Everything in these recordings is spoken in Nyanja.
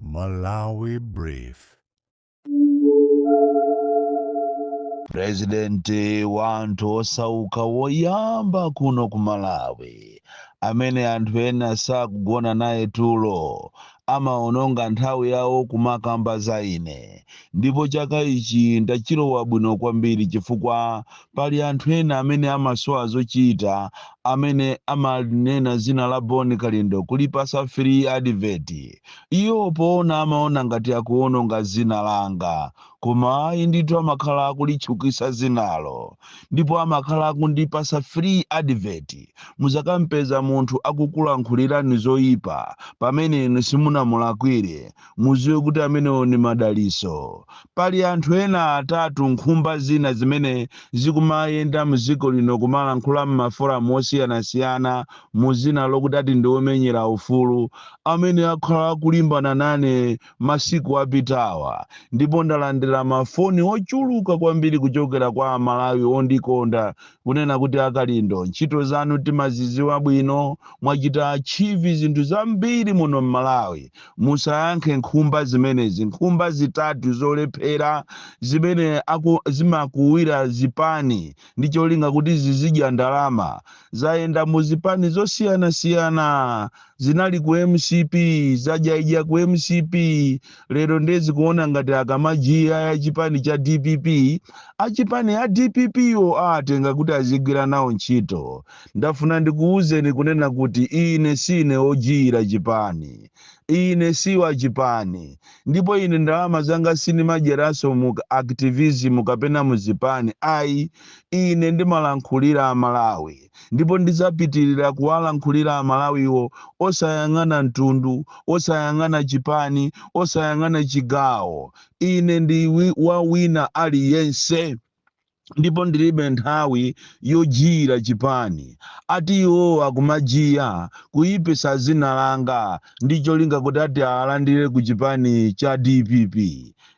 Malawi Brief. Purezidenti wa anthu osauka woyamba kuno ku Malawi, amene anthu ena sakugona naye tulo, amawononga nthawi yawo kumakamba za ine, ndipo chaka ichi ndachilowa bwino kwambiri chifukwa Pali anthu ena amene amasowa zochita amene amanena zina la Bon Kalindo kulipasa free advert. Iwo poona amaona ngati akuononga zina langa koma ayi ndithu amakhala akulitchukitsa zinalo ndipo amakhala akundipasa free advert. Muzakampeza munthu akukulankhulirani zoipa pamene inu simunamulakwire. muziwe kuti amenewo ni madaliso pali anthu ena atatu nkhumba zina zimene zikumayenda mdziko lino kumalankhula mmaforamu osiyanasiyana muzina lokuti ati ndi omenyera ufulu amene akhala akulimbana nane masiku apitawa ndipo ndalandira mafoni ochuluka kwambiri kuchokera kwa amalawi ondikonda kunena kuti akalindo ntchito zanu timaziziwa bwino mwachita achieve zinthu zambiri muno mmalawi Musayankhe nkhumba zimenezi. Nkhumba zitatu zolephera zimene zimakuwira zipani ndi cholinga kuti zizidya ndalama zayenda mu zipani zosiyanasiyana. Zinali ku mcp, zadyaidya ku mcp, lero ndiye zikuona ngati akamajiya ya chipani cha dpp, achipani a dpp-wo awatenga kuti azigwira nawo ntchito. Ndafuna ndikuuzeni kunena kuti ine sine ojiyira chipani. Ine siwa chipani. Ndipo ine ndalama zanga sinimadyeraso mu activism kapena mu zipani ayi. Ine ndimalankhulira a Malawi. Ndipo ndizapitirira kuwalankhulira a Malawiwo osayang'ana mtundu, osayang'ana chipani, osayang'ana chigawo. Ine ndi wa wina aliyense. ndipo ndilibe nthawi yojiyira chipani ati iwo akumajiya kuyipisa zina langa ndi cholinga kuti ati awalandire ku chipani cha dpp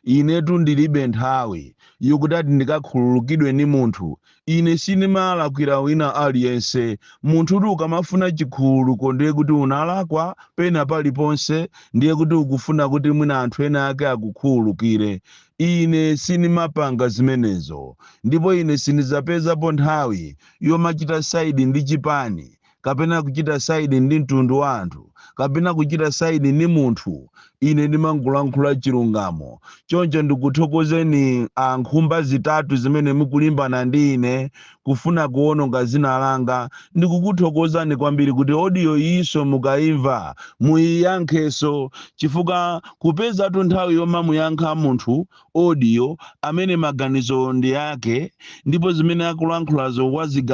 inetu ndilibe nthawi yokuti ati ndikakhululukidwe ni munthu ine sindimalakwira wina aliyense munthu kuti ukamafuna chikhululuko ndiye kuti unalakwa pena paliponse ndiye kuti ukufuna kuti mwina anthu ena ake akukhululukire Ine sinimapanga zimenezo, ndipo ine sinidzapezapo nthawi yomachita saidi ndi chipani, kapena kuchita saidi ndi mtundu wa anthu, kapena kuchita saidi ndi munthu. Ine ndimangolankhula chilungamo. Choncho ndikuthokozeni a nkhumba zitatu zimene mukulimbana ndi ine kufuna kuwononga dzina langa. Ndikukuthokozani kwambiri kuti audio iyinso mukaimva muiyankhenso chifukwa kupezatu nthawi yomamuyankha munthu audio amene maganizo ndi ake ndipo zimene akulankhulazo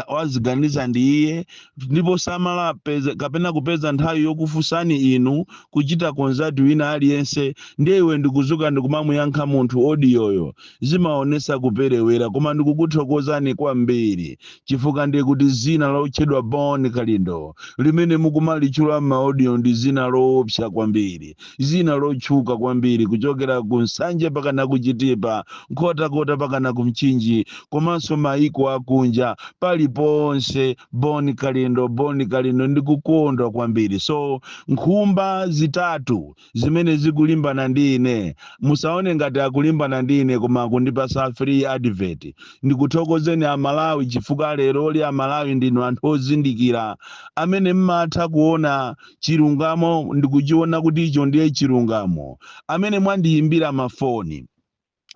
waziganiza ndi iye ndipo samala kapena kupeza nthawi yokufunsani inu kuchita konzati wina aliyense ndiye iwe ndikuzuka ndikumamuyankha munthu audio yo Zimaonesa kuperewera koma ndikukuthokozani kwambiri chifukwa ndiye kuti zina lotchedwa Bon Kalindo limene mukumalitchula mma audio ndi zina loopsa kwambiri, zina lotchuka kwambiri kuchokera ku Nsanje pakana ku Chitipa, Nkhotakota pakana ku Mchinji komanso maiko akunja paliponse Bon Kalindo Bon Kalindo ndikukondwa kwambiri so nkhumba zitatu zimene zikulimbana ndi ine musaone ngati akulimbana ndi ine koma akundipasa free advert ndikuthokozeni amalawi chifukwa leroli amalawi ndinu anthu ozindikira amene mmatha kuona chilungamo ndikuchiona kuti icho ndiye chilungamo amene mwandiyimbira mafoni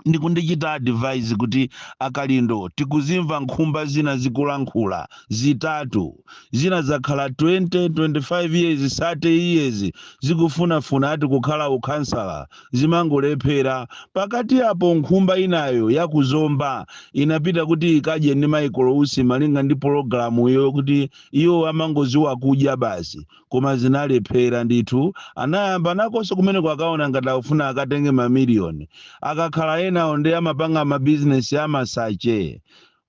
ndi kundichita advise kuti a Kalindo tikuzimva nkhumba zina zikulankhula, zitatu, zina zakhala 20, 25 years, 30 years zikufunafuna ati kukhala ukhansala zimangolephera, pakati apo nkhumba inayo ya ku Zomba inapita kuti ikadye ndi Michael Usi malinga ndi pologalamuyo kuti iwo amangoziwa kudya basi, koma zinalephera ndithu anayamba nakonso kumeneko akaona ngati akufuna akatenge mamiliyoni akakhala enawo ndi amapanga mabizinesi amasache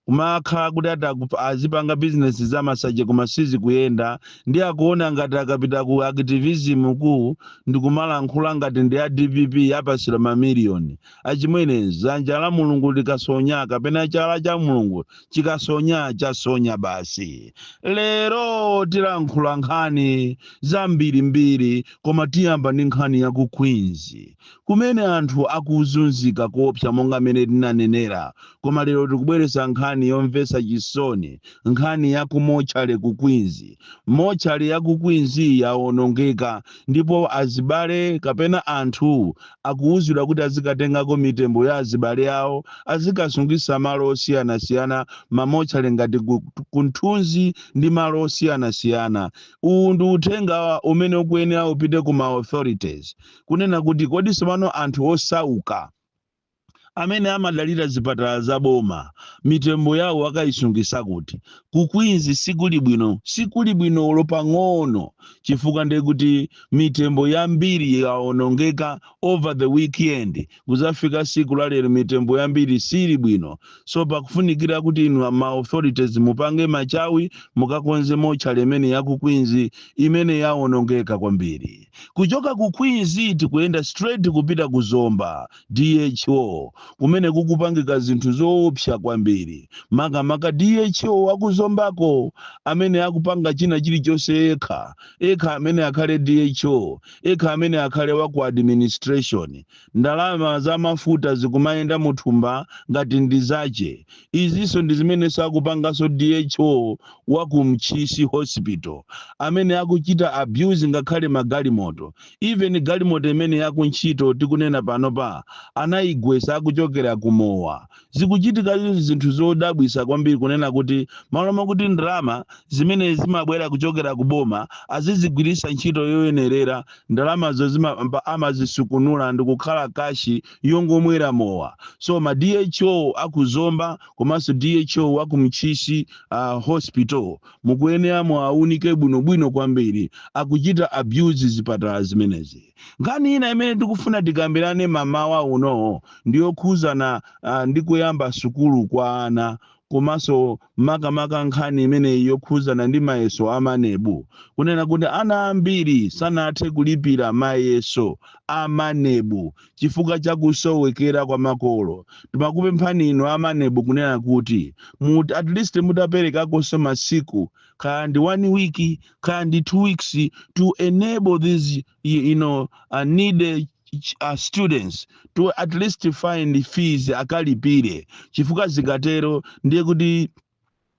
kumakhala kuti ati azipanga bizinesi za masache koma sizikuyenda ndi akuona ngati akapita ku activism ku ndikumalankhula ngati ndi a dpp apasira mamiliyoni Achimwene, dzanja la Mulungu likasonya kapena chala cha Mulungu chikasonya chasonya basi. Lero tilankhula nkhani zambirimbiri koma tiyamba ndi nkhani ya ku Queens kumene anthu akuzunzika koopsa monga mmene tinanenera koma lero tikubweretsa nkhani yomvetsa chisoni nkhani ya ku mochale ku Queens. Mochale ya ku Queens yawonongeka ndipo azibale kapena anthu akuwuzidwa kuti azikatengako mitembo ya azibale awo azikasungisa malo osiyanasiyana ma mortuary ngati ku Mthunzi ndi malo osiyanasiyana. Uwu ndi uthenga umene ukuyenera upite ku ma authorities kunena kuti kodi tsopano anthu osauka amene amadalira zipatala za boma mitembo yawo akayisungisa kuti ku Queens sikuli bwino sikuli bwino olo pang'ono chifukwa ndiye kuti mitembo yambiri yawonongeka over the weekend kuzafika siku la lero mitembo yambiri sili bwino so pakufunikira kuti inu ama authorities mupange machawi mukakonze motchale imene ya ku Queens imene yawonongeka kwambiri kuchoka ku Queens tikuyenda straight kupita ku Zomba DHO, kumene kukupangika zinthu zoopsa kwambiri, makamaka DHO wa ku Zombako amene akupanga china chilichonse yekha, yekha amene akhale DHO, yekha amene akhale wa ku administration. Ndalama za mafuta zikumayenda mu thumba ngati ndi zache. Izinso ndi zimenenso akupanganso DHO wa ku Ntchisi Hospital, amene akuchita abuse ngakhale magalimoto. even galimoto imene yakuntchito tikunena panopa anayigwesa akuchokera ku mowa zikuchitika izi zinthu zodabwisa kwambiri kunena kuti malo makuti ndalama zimene zimabwera kuchokera ku boma azizigwirisa ntchito yoyenerera ndalamazo zima- pa- amazisukunula ndikukhala kashi yongomwera mowa so ma dho akuzomba komanso dho wa ku Ntchisi uh, hospital mukuyenera muwaunike bwinobwino kwambiri akuchita abuse zipatala zimenezi nkhani ina imene tikufuna tikambirane mamawa uno ndi yokhuzana uh, ndi kuyamba sukulu kwa ana komanso makamaka nkhani imeneyi yokhuzana ndi mayeso a MANEB kunena kuti ana ambiri sanathe kulipira mayeso a MANEB chifukwa cha kusowekera kwa makolo timakupemphani inu a MANEB kunena kuti mut, at least mutaperekakonso masiku kaya ndi one week kaya ndi two weeks to enable these you you know, uh, needy ch- uh, students to at least find fees akalipire chifukwa zikatero ndiye kuti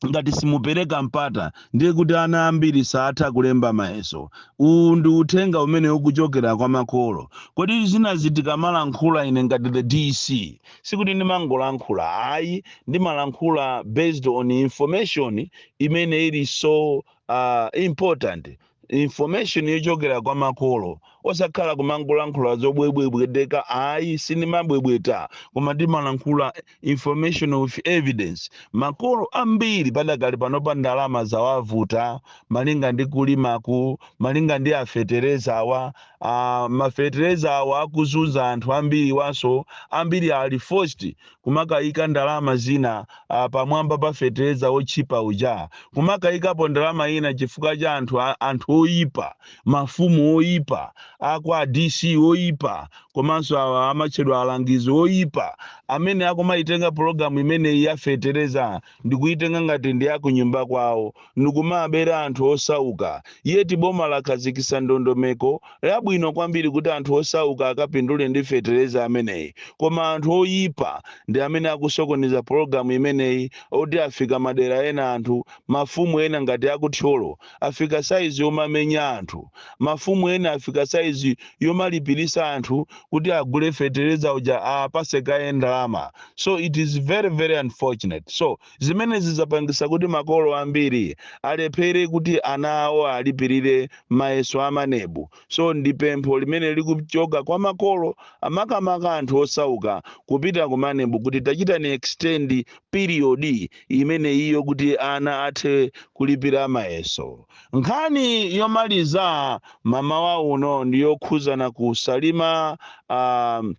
ngati simupereka mpata ndiye kuti ana ambiri saatha kulemba mayeso uwu ndi uthenga umene ukuchokera kwa makolo kodi zinazi tikamalankhula ine ngati the dc sikuti ndimangolankhula ayi ndimalankhula based on information imene ili so uh, important information yochokera kwa makolo osakhala kumangolankhula zobwebwebweteka ayi sindimabwebweta koma ndimalankhula information of evidence makolo ambiri padakali panopa ndalama zawavuta malinga ndi kulimaku malinga ndi afetereza awa uh, mafetereza awa akuzunza anthu ambiri awaso ambiri ali forced kumakaika ndalama zina a pamwamba pa fetereza wotchipa uja, kumakaikapo ndalama ina chifukwa cha anthu a- anthu oyipa, mafumu oyipa, akwa DC oyipa, komanso awa amatchedwa alangizi oyipa amene akumaitenga pulogalamu imeneyi ya fetereza ndikuitenga ngati ndi yakunyumba kwawo ndikumabera anthu osauka yeti boma lakhazikisa ndondomeko yabwino kwambiri kuti anthu osauka akapindule ndi fetereza ameneyi koma anthu oyipa ndi amene akusokoneza pologalamu imeneyi oti afika madera ena anthu mafumu ena ngati akuthyolo afika size yomamenya anthu, mafumu ena afika size yomalipilisa anthu kuti agule fetereza uja apase kaye ndalama so it is very very unfortunate so zimenezi zizapangisa kuti makolo ambiri alephere kuti ana awo alipirire mayeso amanebu so ndi pempho limene likuchoka kwa makolo makamaka anthu osauka kupita kumanebu kuti tachitani extend piriyodi imeneyiyo kuti ana athe kulipira mayeso. Nkhani yomaliza mamawa uno ndi yokhudzana ku Salima um,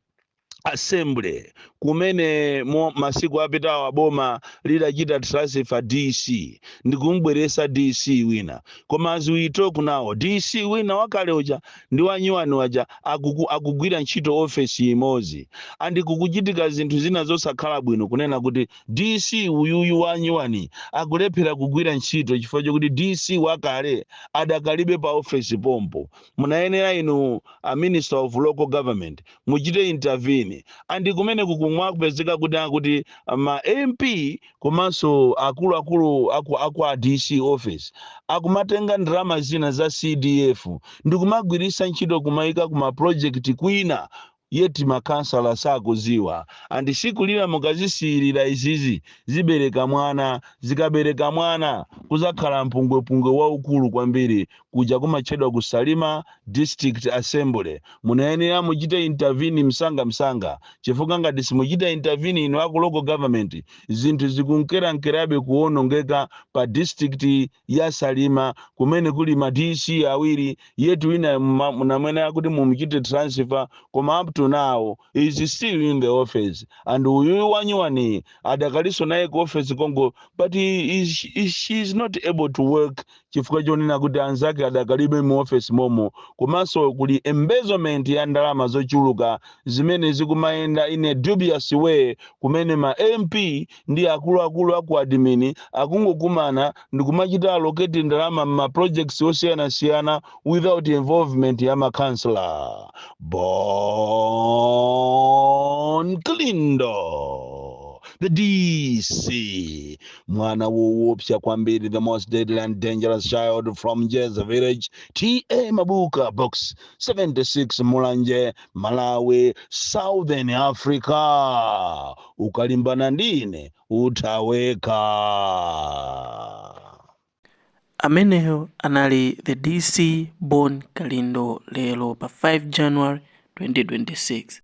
assembly kumene mm masiku apitawa boma lidachita transfer dc ndikumbweresa dc wina koma as we talk now dc wina wakale uja ndi wanyuwani waja akuku akugwira ntchito office imodzi and kukuchitika zinthu zina zosakhala bwino kunena kuti DC uyuyu wanyuwani akulephera kugwira ntchito chifukwa chokuti DC wakale adakalibe pa office pompo munayenera inu a minister of local government muchite intervene and kumene kukumwa kupezeka kuti akuti ma MP komanso akuluakulu aku aku a DC office akumatenga ndalama zina za CDF ndikumagwiritsa ntchito kumaika ku ma project kwina yet ma councillor sakuziwa and tsiku lina mukazisiyilira izizi zibereka mwana zikabereka mwana kuzakhala mpungwepungwe waukulu kwambiri kuja kumatchedwa ku Salima District Assembly. Munayenera muchite intervene msanga msanga chifukwa ngati simuchita intervene inu aku local government zinthu zikunkerankerabe kuonongeka pa district ya Salima kumene kuli ma DC awiri yet winayo muma- munayenera kuti mumuchite transfer koma up to now is still in the office and uyuyu wanyuwaniyi adakalinso naye ku office konko but he is, is, she is not able to work chifukwa chonena kuti anzake adakalibe mu office momo komanso kuli embezzlement ya ndalama zochuluka zimene zikumayenda in a dubious way komwe ma MP ndi akuluakulu aku admin akungokumana ndikumachita allocate ndalama mma projects osiyanasiyana without involvement ya ma councillor. Bon Kalindo, the DC. mwana woopsa kwambiri the most deadly and dangerous child from jeza village ta mabuka box 76 mulanje malawi southern africa ukalimbana ndine utaweka ameneyo anali the dc bon kalindo lero pa 5 january 2026